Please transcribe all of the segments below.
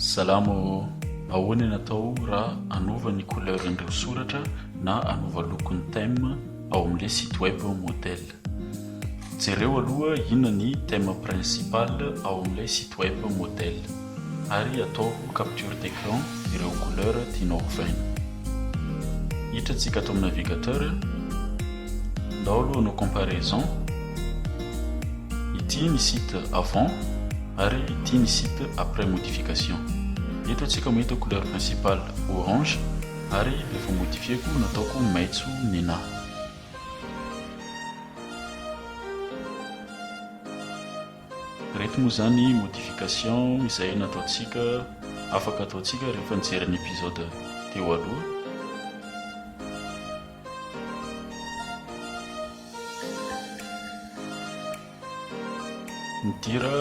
Salamo, Ahoana ny atao raha hanova ny couleuran'ireo soratra na hanova loko ny thème ao amin'ilay site web modèle? Jereo aloha inona ny thème principal ao amin'ilay site web modèle ary ataovy capture d'écran ireo couleur tianao hovaina. Hiditra antsika ato amin'ny navigateur, ndao aloha hanao comparaison, ity ny site avant ary ity ny site après modification. Eto antsika mahita couleur principale orange ary rehefa modifieko nataoko maitso ny nahy. Ireto moa izany modification izay nataontsika, afaka ataontsika rehefa nijery ny episode teo aloha. Ny dira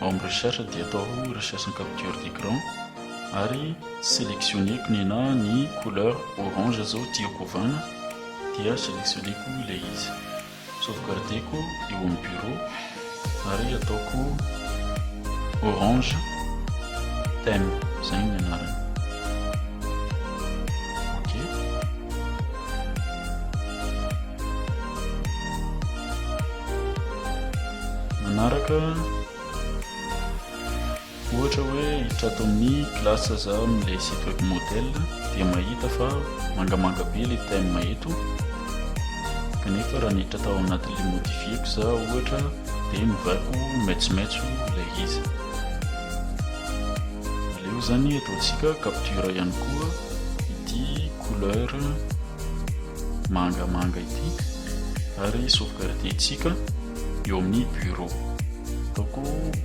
ao amin'ny recherche dia ataoko recherche en capture d'écran ary sélectionneko ny na ny couleur orange izao tiako ovana dia sélectionneko ilay izy. Sauvegarder-ko eo amin'ny bureau ary ataoko orange theme, izay ny anarany. Manaraka. Ohatra hoe hiditra ato amin'ny classe za amin'ilay site web model dia mahita fa mangamanga be ilay thème eto kanefa raha niditra tao anatin'ilay modifier ko za ohatra dia novaiko maitsomaitso ilay izy. Aleo zany ataontsika capture ihany koa ity couleur mangamanga ity ary sauvegarder-tsika eo amin'ny bureau. Ataoko.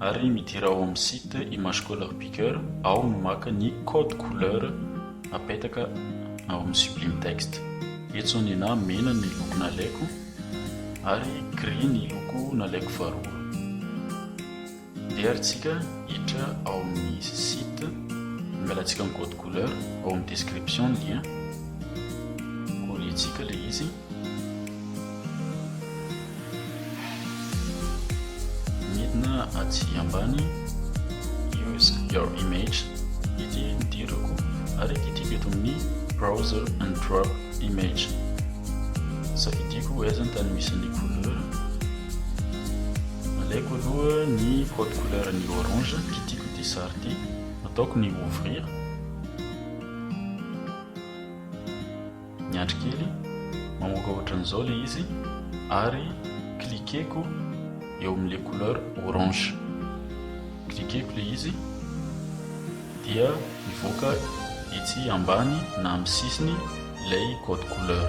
ary midira ao amin'ny site Image Color Picker ao no maka ny code couleur apetaka ao amin'ny Sublime Text. Eto ny na mena ny loko nalaiko ary gris ny loko nalaiko faharoa. Deharintsika hiditra ao amin'ny site, angalantsika ny code couleur, ao amin'ny description ny lien, coller-ntsika ilay izy. Midina aty ambany use your image ity ity loko ary kitiko eto amin'ny browser and drop image safidiko ho aiza ny tany misy ny couleur alaiko aloha ny code couleur ny orange kitiko ity sary ity ataoko ny ouvrir Niandry kely, mamoaka ohatran'izao le izy ary cliquer-ko eo amin'le couleur orange. Cliquer-ko le izy dia mivoaka etsy ambany na amin'ny sisiny ilay code couleur.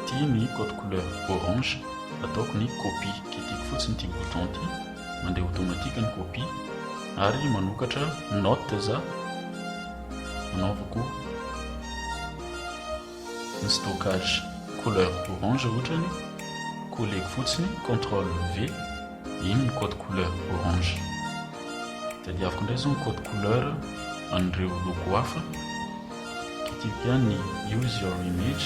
Ity ny code couleur orange, ataoko ny copie. Kitihiko fotsiny ity bouton ity, mandeha automatique ny copie ary manokatra notes anaovako ny stockage couleur orange ohatrany koleko fotsiny contrôle V iny ny code couleur orange tadiaviko indray izao ny code couleur an'ireo loko hafa kitiko ihany ny use your image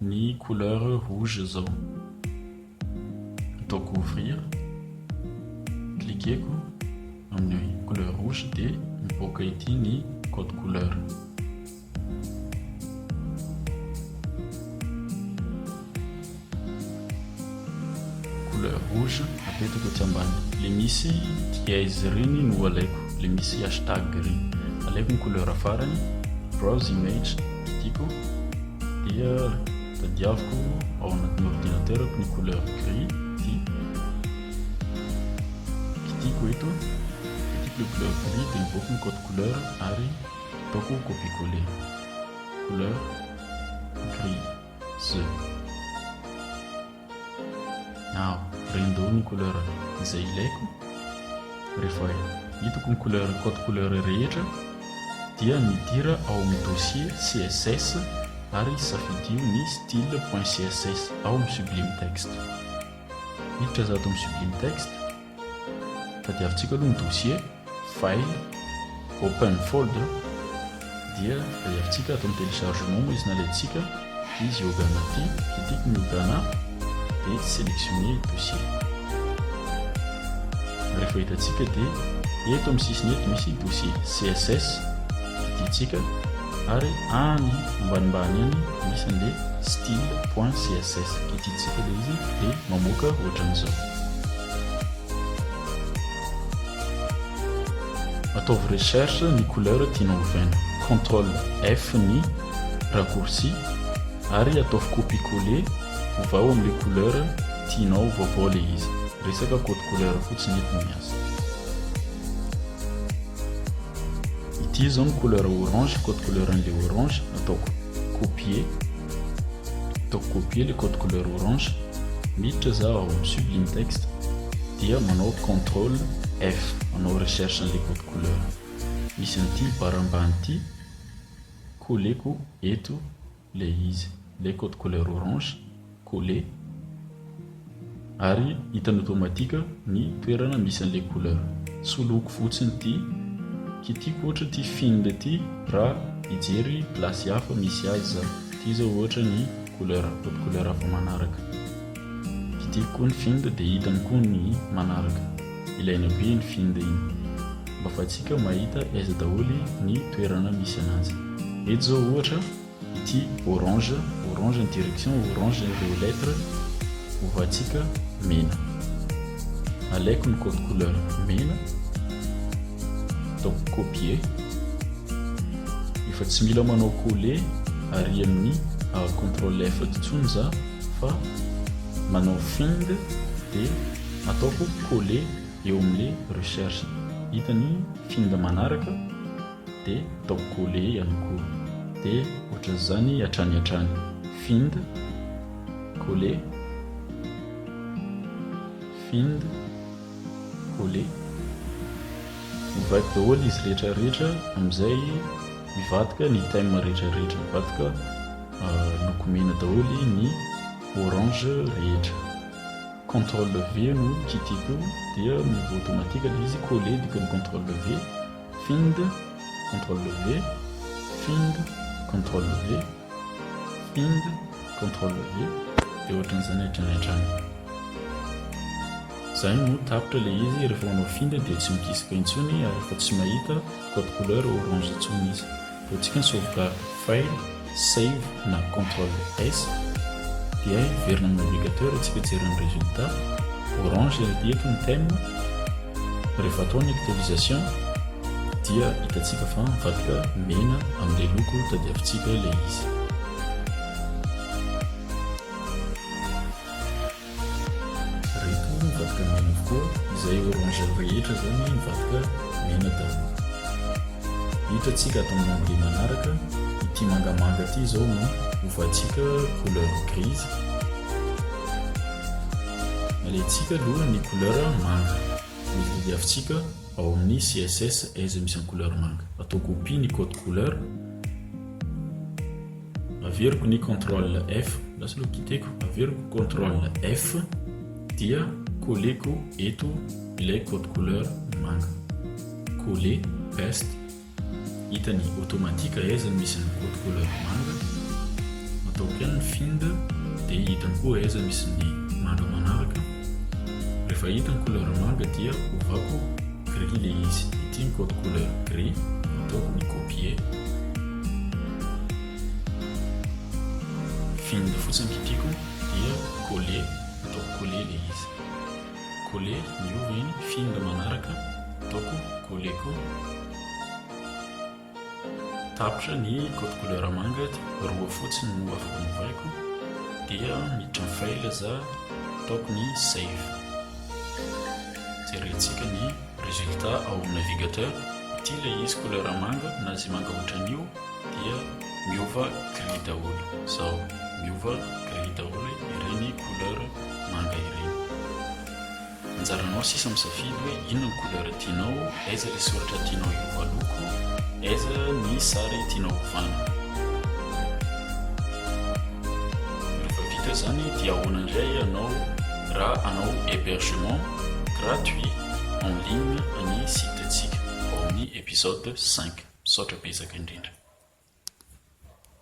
Ny couleur rouge zao. Ataoko ouvrir. Cliquer-ko amin'ny couleur rouge dia mipoaka ity ny code couleur. couleur rouge apetako etsy ambany le misy dièse ireny no alaiko le misy hashtag ireny alaiko ny couleur farany browse image kitiko dia tadiaviko ao anatin'ny ordinateur ko ny couleur gris ity kitiko eto kitiko le couleur gris dia mivoaka ny code couleur ary ataoko copie coller couleur gris Z. Aho rindoo ny couleur izay ilaiko, rehefa hitako ny couleur code couleur rehetra dia midira ao amin'ny dossier css ary safidio ny style.css ao amin'ny sublime text. Miditra za ato amin'ny sublime text. Tadiavintsika aloha ny dossier, file, open folder, dia tadiavintsika atao ny téléchargement moa izy na alaintsika izy yoga anaty, kitiko ny yoga na, dia sélectionner ny dossier. Rehefa hitantsika dia eto amin'ny sisiny eto misy dossier CSS, kititsika ary any ambanimbany any misy an'ilay style.css, kititsika ilay izy dia mamoaka ohatran'izao. Ataovy recherche ny couleur tianao hovaina. Control F ny raccourci ary ataovy copier coller ovao amin'ilay couleur tianao vaovao ilay izy. Resaka code couleur fotsiny eto no miasa. Ity izao ny couleur orange, code couleur an'ilay orange. Ataoko copier. Ataoko copier le code couleur orange, miditra za ao amin'ny sublime text dia manao control F, manao recherche an'le code couleur, misy an'ity barre ambany ity, colleko eto le izy, le code couleur orange, coller. Ary hitany automatique ny toerana misy an'ilay couleur. Soloiko fotsiny ity kitihiko ohatra ity fine ity raha hijery place hafa misy azy za. Ity izao ohatra ny couleur, code couleur hafa manaraka. Kitihiko koa ny fine dia hitany koa ny manaraka. Ilaina be iny fine iny mba afahantsika mahita aiza daholo ny toerana misy an'azy. Eto izao ohatra. ity orange, orange ny direction, orange ireo lettre, ovatsika mena, alaiko ny code couleur mena, ataoko copier, efa tsy mila manao coller ary amin'ny control F intsony za fa manao find dia ataoko coller eo amin'ilay recherche, hita ny find manaraka, de ataoko coller ihany koa de ohatran'izany hatrany hatrany find coller find coller mivaky daholo izy rehetra rehetra amin'izay mivadika ny thème rehetra rehetra mivadika euh, loko mena daholo ny orange rehetra contrôle V no kitiko dia miova automatique ilay izy coller dikany contrôle V Find, Ctrl V, Find, Ctrl V, Find, Ctrl V, dia ohatran'izany hatrany hatrany. Izay no tapitra ilay izy, rehefa manao find dia tsy migisika intsony ary efa tsy mahita code couleur orange intsony izy. Raha ny sauvegarde file, save na control S dia hiverina amin'ny navigateur isika hijery ny résultat, orange ilay diako ny thème, rehefa atao ny actualisation dia hitantsika fa mivadika mena amin'ilay loko tadiavintsika ilay izy. Reto ny mivadika mena avokoa izay orange rehetra zany mivadika mena daholo. Hitantsika ato amin'ny onglet manaraka, ity mangamanga ity izao no hovadintsika couleur grise. Alaintsika aloha ny couleur manga, ny lily avintsika ao amin'ny CSS izay misy ny couleur manga. Atao copie ny code couleur. Averiko ny control F, lasa aloha kiteko, averiko control F dia colleko eto ilay code couleur manga. Coller, paste, hitany automatique aiza no misy ny code couleur manga. Ataoko ihany ny find dia hitany koa aiza misy ny manga manaraka. Rehefa hita ny couleur manga dia ovako gris ilay izy. Ity ny code couleur gris, ataoko ny copier. Vinyle fotsiny ity tiako dia Colle ataoko Colle ilay izy Colle miova iny vinyle manaraka ataoko Colle koa tapitra ny code couleur manga dia roa fotsiny no afaka novahiko dia miditra ny file za ataoko ny save jerentsika ny Résultat ao amin'ny navigateur, ity ilay izy couleur manga na izay manga ohatran'io dia miova gris daholo, izao, miova gris daholo ireny couleur manga ireny. Anjaranao sisa misafidy hoe inona ny couleur tianao, aiza ilay soratra tianao hiova loko, aiza ny sary tianao hovana. Rehefa vita izany dia ahoana indray ianao raha hanao hébergement. gratuit en ligne ny site ntsika ao amin'ny episode cinq. Misaotra betsaka indrindra.